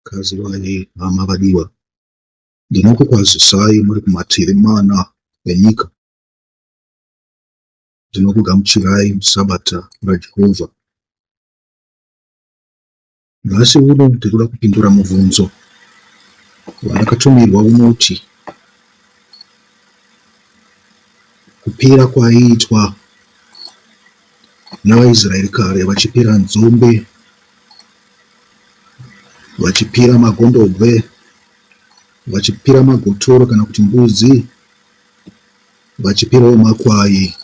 Gadzirai hama vadiwa, ndinokukwazisai muri kumativi mana enyika. Ndinokugamuchirai muSabata raJehovha. Nhasi uno ndiri kuda kupindura mubvunzo wandakatumirwa unoti kupira kwaiitwa NavaIsraeri kare vachipira nzombe, vachipira magondobwe, vachipira magotoro kana kuti mbudzi, vachipirawo makwai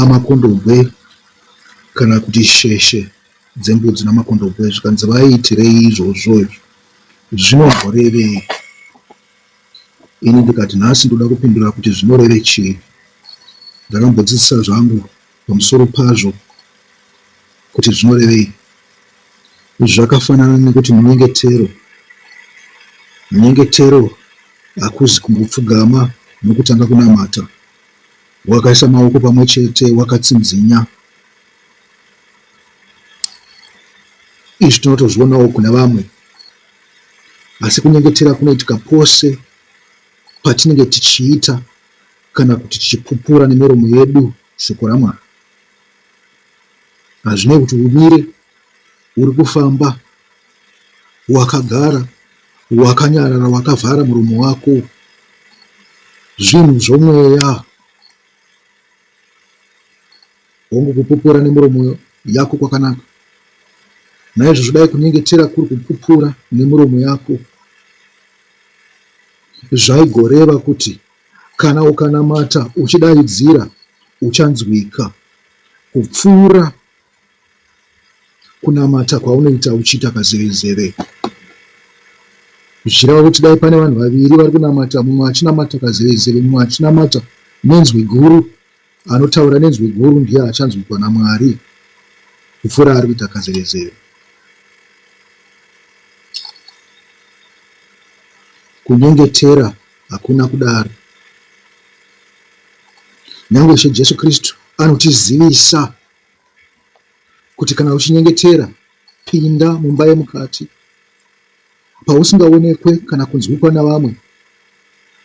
amakondobwe kana kuti sheshe dzembudzi namakondobwe zvikanzi vaiitirei izvozvo izvi zvinozorevei Ini ndikati nhasi ndoda kupindura kuti zvinoreve chii. Ndakambodzidzisa zvangu pamusoro pazvo kuti zvinorevei. Izvi zvakafanana nekuti munyengetero. Munyengetero hakuzi kungopfugama nokutanga kunamata wakaisa maoko pamwe chete wakatsinzinya. Izvi tinotozvionawo kune vamwe. Asi kunyengetera kunoitika pose patinenge tichiita kana kuti tichipupura nemiromo yedu shoko raMwari. Hazvinei kuti umire, uri kufamba, wakagara, wakanyarara, wakavhara muromo wako, zvinhu zvomweya Hongu, kupupura nemuromo yako kwakanaka. Naizvozvo dai kunyengetera kuri kupupura nemuromo yako zvaigoreva kuti kana ukanamata uchidaidzira uchanzwika kupfuura kunamata kwaunoita uchiita kazevezeve. Zvichireva kuti dai pane vanhu vaviri vari kunamata, mumwe achinamata kazevezeve, mumwe achinamata nenzwi guru, Anotaura nenzwi guru ndiye achanzwikwa naMwari kupfuura ari kuita kazevezeve. Kunyengetera hakuna kudaro. Nyange Ishe Jesu Kristu anotizivisa kuti kana uchinyengetera, pinda mumba yemukati pausingaonekwe kana kunzwikwa navamwe,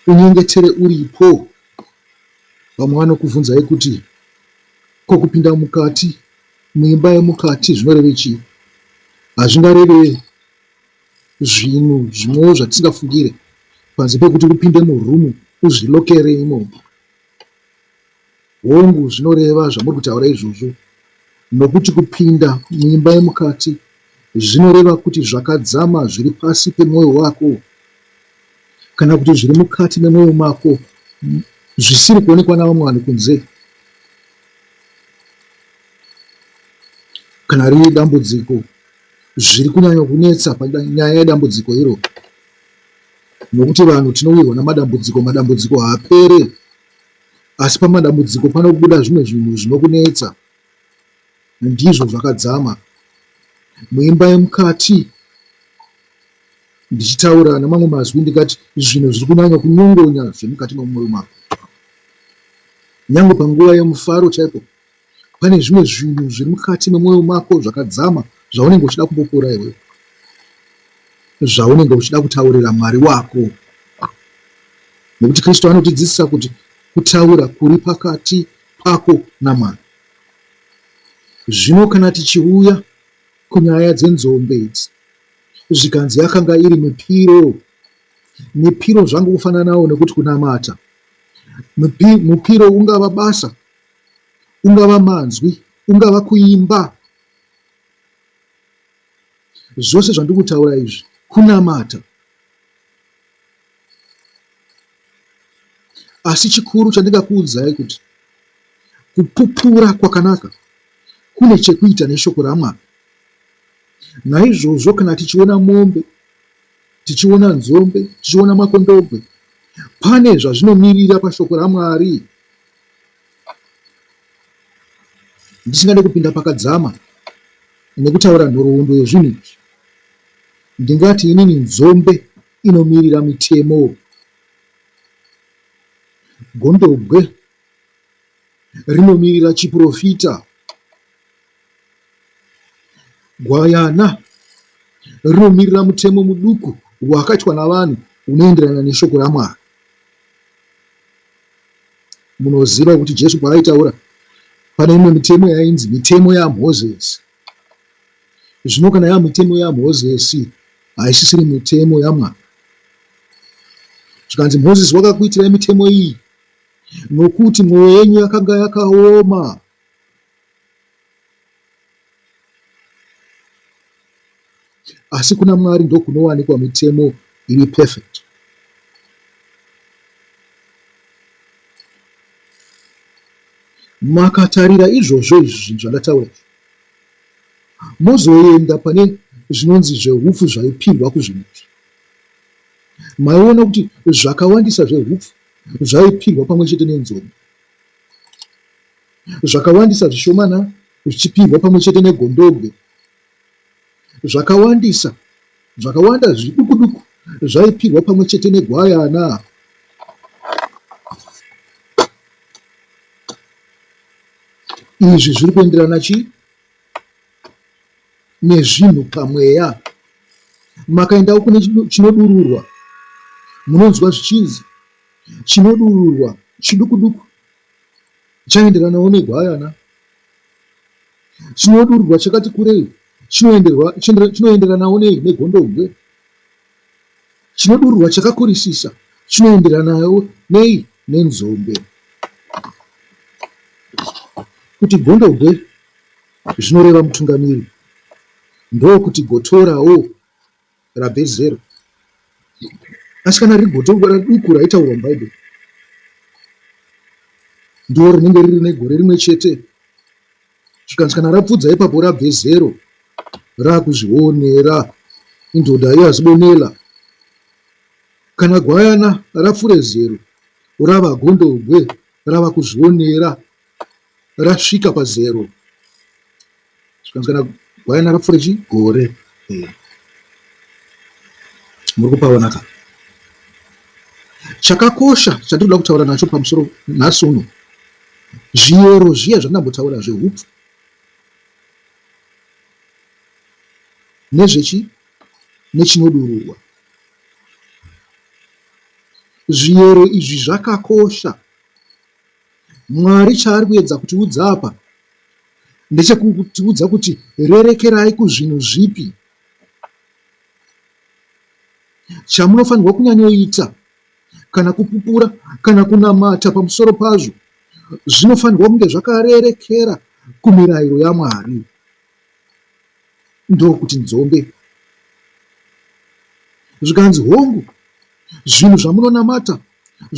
unyengetere uripo. Vamwe vanokuvhunzai kuti ko kupinda mukati muimba yemukati zvinoreve chii? Hazvingareve zvinhu zvimwewo zvatisingafungire panze pekuti upinde murumu uzvilokere imomo. Hongu, zvinoreva zvamuri kutaura izvozvo, nokuti kupinda muimba yemukati zvinoreva kuti zvakadzama zviri pasi pemwoyo wako kana kuti zviri mukati memwoyo mako zvisiri kuonekwa navamwe vanhu kunze kana riri dambudziko zviri kunyanya kunetsa panyaya yedambudziko iro nokuti vanhu tinowirwa namadambudziko madambudziko haapere asi pamadambudziko panokubuda zvimwe zvinhu zvinokunetsa Ndizvo zvakadzama muimba yemukati ndichitaura nemamwe mazwi ndikati zvinhu zviri kunyanya kunyongonya zvemukati memwoyo mako nyange panguva yemufaro chaipo pane zvimwe zvinhu zviri mukati memwoyo mako zvakadzama zvaunenge uchida kupopora iwewe zvaunenge uchida kutaurira mwari wako nekuti kristu anotidzidzisa kuti kutaura kuri pakati pako namwari Zvino kana tichiuya kunyaya dzenzombe idzi, zvikanzi yakanga iri mipiro, mipiro zvangu kufananawo nekuti kunamata. Mupi, mupiro ungava basa, ungava manzwi, ungava kuimba. Zvose zvandiri kutaura izvi kunamata. asi chikuru chandingakuudzai kuti kupupura kwakanaka kune chekuita neshoko ramwari naizvozvo kana tichiona mombe tichiona nzombe tichiona makondobwe pane zvazvinomirira pashoko ramwari ndisingade kupinda pakadzama nekutaura nhoroondo yezvinhu izvi ndingati inini nzombe inomirira mitemo. Gondobwe rinomirira chiprofita. Gwayana rinomirira mutemo muduku wakaitwa navanhu unoenderana neshoko raMwari. Munoziva kuti Jesu paayitaura pane imwe mitemo yainzi mitemo yaMozisi. Zvino kana yava mitemo yaMozisi, haisisiri mitemo yaMwari. Zvikanzi, Mozisi wakakuitirai mitemo iyi nokuti mwoyo yenyu yakanga yakaoma. asi kuna Mwari ndokunowanikwa mitemo iri perfect. Makatarira izvozvo izvi zvinhu zvandataura izvi, mozoenda pane zvinonzi zvehupfu zvaipindwa kuzvinhu izvi. Maiona kuti zvakawandisa zvehupfu zvaipindwa pamwe chete nenzombe, zvakawandisa zvishomana zvichipindwa pamwe chete negondobwe Zvakawandisa, zvakawanda zvidukuduku zvaipirwa pamwe chete negwayana. Izvi zviri kuenderana chi nezvinhu pamweya. Makaendawo kune chinodururwa, munonzwa zvichinzi chinodururwa chidukuduku chaenderanawo negwayana. Chinodururwa chakati kurei chinoenderanawo nei negondobwe? Chinodururwa chakakurisisa chinoenderanawo nei nenzombe? Kuti gondobwe zvinoreva mutungamiri, ndokuti gotorawo rabhezero asi kana riri gotongora duku raitaurwa mubhaibheri ndiro rinenge riri negore rimwe chete zvikanzi kana rapfudza ipapo rabve zero raakuzvionera indoda iyo azibonela kana gwayana rafure zero rava gondobwe rava kuzvionera rasvika pazero zvikanzi kana gwayana rapfuura chi gore eh. muri kupaona ka chakakosha chatinoda kutaura nacho pamusoro nhasi uno zviyero zviya zvandambotaura zvehupfu nezvechi nechinodururwa zviyero izvi zvakakosha Mwari chaari kuedza kutiudza apa ndechekutiudza kuti rerekerai kuzvinhu zvipi chamunofanirwa kunyanyoita kana kupupura kana kunamata pamusoro pazvo zvinofanirwa kunge zvakarerekera kumirayiro yamwari ndokuti nzombe zvikanzi hongu zvinhu zvamunonamata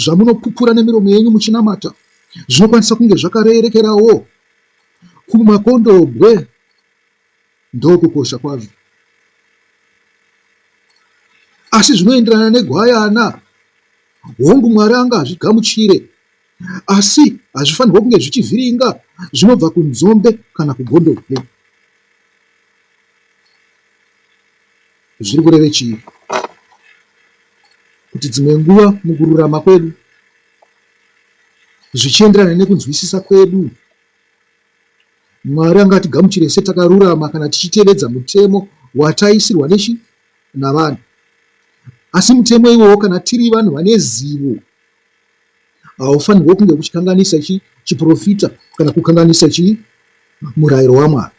zvamunopupura nemiromo yenyu muchinamata zvinokwanisa kunge zvakarerekerawo kumakondobwe ndokukosha kwazvo asi zvinoenderana negwayana hongu mwari anga hazvigamuchire asi hazvifanirwa kunge zvichivhiringa zvinobva kunzombe kana kugondobwe Zviri kureve chii? Kuti dzimwe nguva mukururama kwedu, zvichienderana nekunzwisisa kwedu, Mwari angatigamuchire setakarurama kana tichitevedza mutemo wataisirwa nechi navanhu. Asi mutemo iwowo, kana tiri vanhu vane zivo haufanirwe kunge uchikanganisa chi chiprofita kana kukanganisa chi murayiro wamwari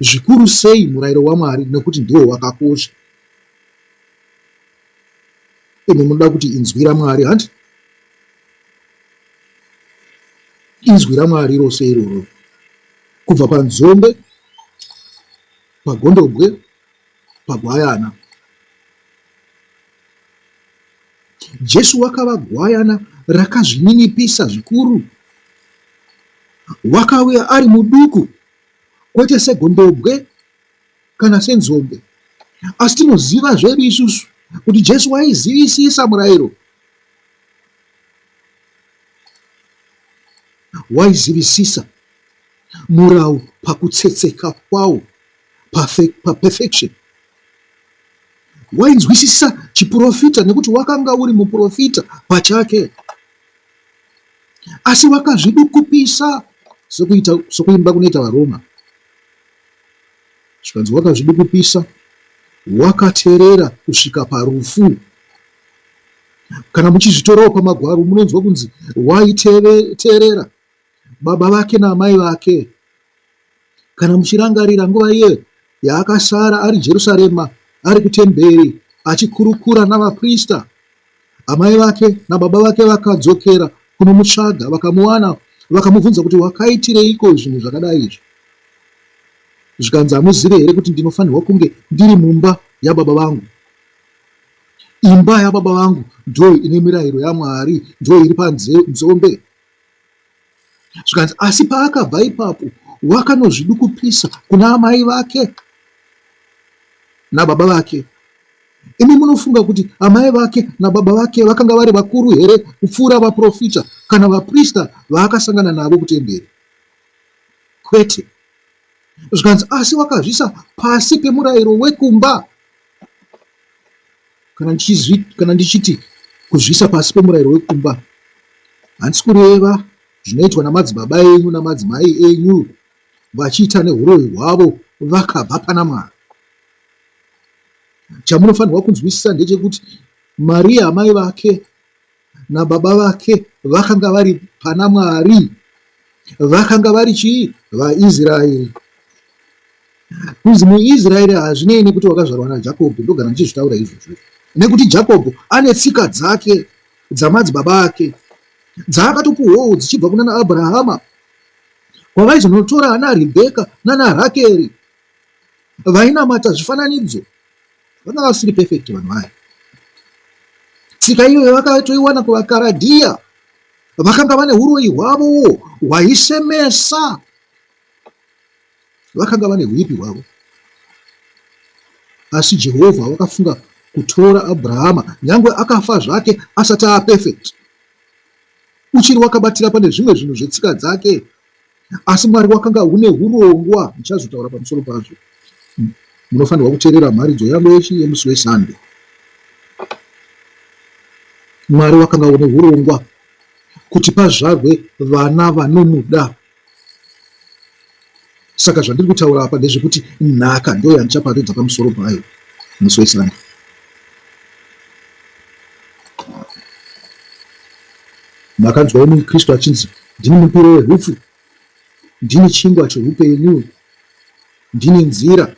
zvikuru sei murayiro wamwari nekuti ndiwo wakakosha imi munoda kuti inzwi ramwari hanti inzwi ramwari rose iroro kubva panzombe pagondobwe pagwayana. Jesu wakava gwayana rakazvininipisa zvikuru. Wakauya ari muduku, kwete segondobwe kana senzombe. Asi tinoziva zvedu isusu kuti Jesu waizivisisa murayiro, waizivisisa murau pakutsetseka kwawo. paperfection pa wainzwisisa chiprofita nekuti wakanga uri muprofita pachake asi wakazvidukupisa sokuita sokuimba kunoita varoma zvikanzi wakazvidukupisa wakaterera kusvika parufu kana muchizvitorawo pamagwaro munonzwa kunzi waiteerera baba vake naamai vake. Kana muchirangarira nguva iye yaakasara ari Jerusarema, ari kutemberi achikurukura navaprista, amai vake nababa vake vakadzokera kunomutsvaga, vakamuwana, vakamubvunza kuti wakaitireiko zvinhu zvakadai izvi? Zvikanzi hamuzive here kuti ndinofanirwa kunge ndiri mumba yababa vangu? Imba yababa vangu ndo ine mirayiro yaMwari, ndo iri panzombe. zvikanzi asi paakabva ipapo wakanozvidukupisa kuna amai vake nababa vake imi munofunga kuti amai vake nababa vake vakanga vari vakuru here kupfuura vaprofita kana vaprista vaakasangana navo kutemberi kwete zvikanzi asi wakazvisa pasi pemurayiro wekumba Kana ndichizvi, kana ndichiti kuzviisa pasi pemurayiro wekumba, handisi kureva zvinoitwa namadzibaba enyu namadzimai enyu vachiita neuroyi hwavo vakabva pana Mwari. Chamunofanirwa kunzwisisa ndechekuti Mariya amai vake nababa vake vakanga vari pana mwari vakanga vari chii vaisraeri kunzi muisraeri hazvinei nekuti wakazvarwa najakobho ndogara ndichizvitaura izvozvo nekuti jakobho ane tsika dzake dzamadzibaba ake dzaakatopuhwawo dzichibva kuna naabrahama kwavaizonotora ana rebheka nana rakeri vainamata zvifananidzo vanga vasiri perfect vanhu vaya tsika iyoyo vakatoiwana kuvakaradhiya vakanga vane uroyi hwavowo hwaisemesa vakanga vane huipi hwavo asi jehovha vakafunga kutora abrahama nyange akafa zvake asati aperfect uchiri wakabatira pane zvimwe zvinhu zvetsika dzake asi mwari wakanga une urongwa ndichazotaura pamusoro pazvo hmm. munofanirwa kuteerera mharidzo yangu yechi yemusi wesande mwari wakanga une urongwa kuti pazvarwe vana vanomuda saka zvandiri kutaura apa ndezvekuti nhaka ndo yandichaparidza pamusoro payo musi wesande makanzwa umwe mukristu achinzi Ndini mupiro wehupfu, ndini chingwa chehupenyu, ndini nzira,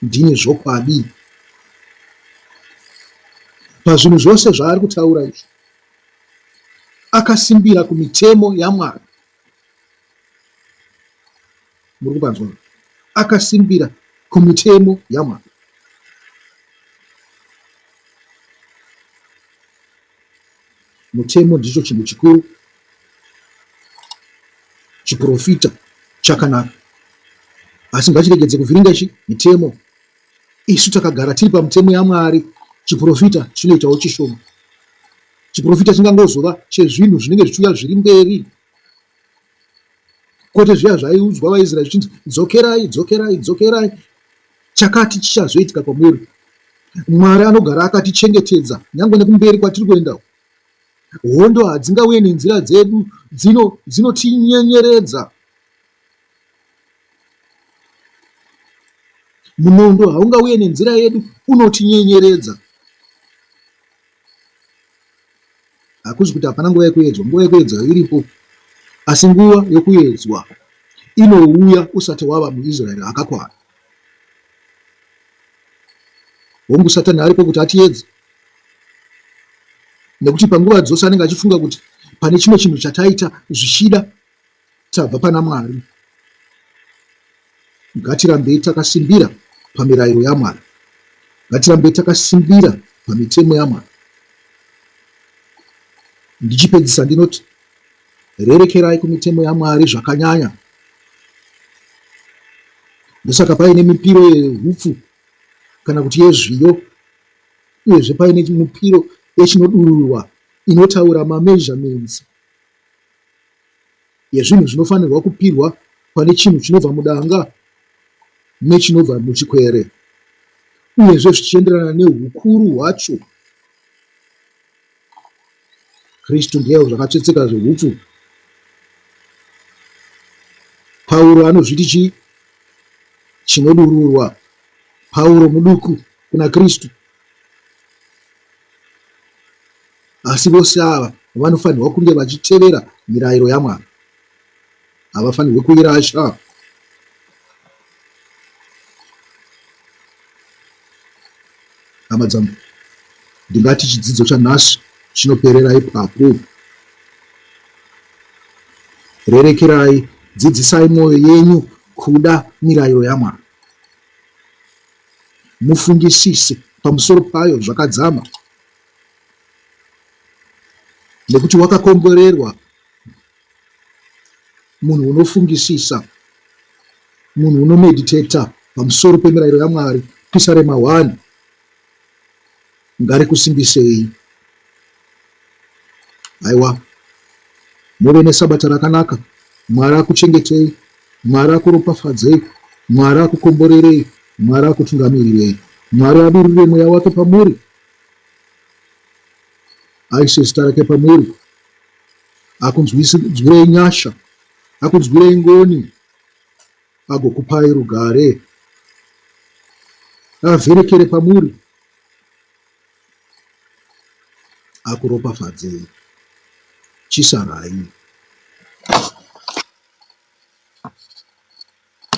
ndini zvokwadi. Pazvinhu zvose zvaari kutaura izvi, akasimbira kumitemo yaMwari. Muri kupanzwa? Akasimbira kumitemo yaMwari. Mutemo ndicho chinhu chikuru, chiporofita chakanaka, asi ngachiregedze kuvhiringa ichi mitemo. Isu takagara tiri pamutemo yaMwari, chiporofita chinoitawo chishoma. Chiporofita chingangozova chezvinhu zvinenge zvichiuya zviri mberi. kwete zviya zvaiudzwa vaisraeri zvichinzi dzokerai dzokerai dzokerai chakati chichazoitika kwamuri mwari anogara akatichengetedza nyange nekumberi kwatiri kuenda hondo hadzingauye nenzira dzedu dzinotinyenyeredza dzino munondo haungauye nenzira yedu unotinyenyeredza hakuzi kuti hapana nguva yekuedzwa nguva yekuedzwa iripo asi nguva yokuedzwa inouya usati wava muisraeri akakwana hongu satani ariko kuti atiedze nekuti panguva dzose anenge achifunga kuti pane chimwe chinhu chataita zvichida Tabva pana Mwari. Ngatirambei takasimbira pamirayiro yaMwari. Ngatirambei takasimbira pamitemo yaMwari. Ndichipedzisa ndinoti rerekerai kumitemo yaMwari zvakanyanya. Ndosaka paine mipiro yehupfu kana kuti yezviyo uyezve paine mupiro yechinodururwa inotaura mameasurements yezvinhu zvinofanirwa kupirwa pane chinhu chinobva mudanga nechinobva muchikwere uyezve zvichienderana neukuru hwacho kristu ndiye zvakatsvetseka zveupfu pauro anozviti chii chinodururwa pauro muduku kuna kristu Asi vose ava vanofanirwa kunge vachitevera mirayiro yaMwari. Havafanirwe kuirasha. Hama dzangu, ndingati chidzidzo chanhasi chinoperera ipapo. Rerekerai, dzidzisai mwoyo yenyu kuda mirayiro yaMwari. Mufungisise pamusoro payo zvakadzama. nekuti wakakomborerwa munhu unofungisisa munhu unomeditata pamusoro pemirayiro yamwari pisa rema 1 ngarikusimbisei aiwa muve nesabata rakanaka mwari akuchengetei mwari akuropafadzei mwari akukomborerei mwari akutungamirirei mwari adurure mweya wake pamuri aise zita rake pamuri akunzwirei nyasha akunzwirei ngoni agokupai rugare avherekere pamuri akuropafadzei chisarai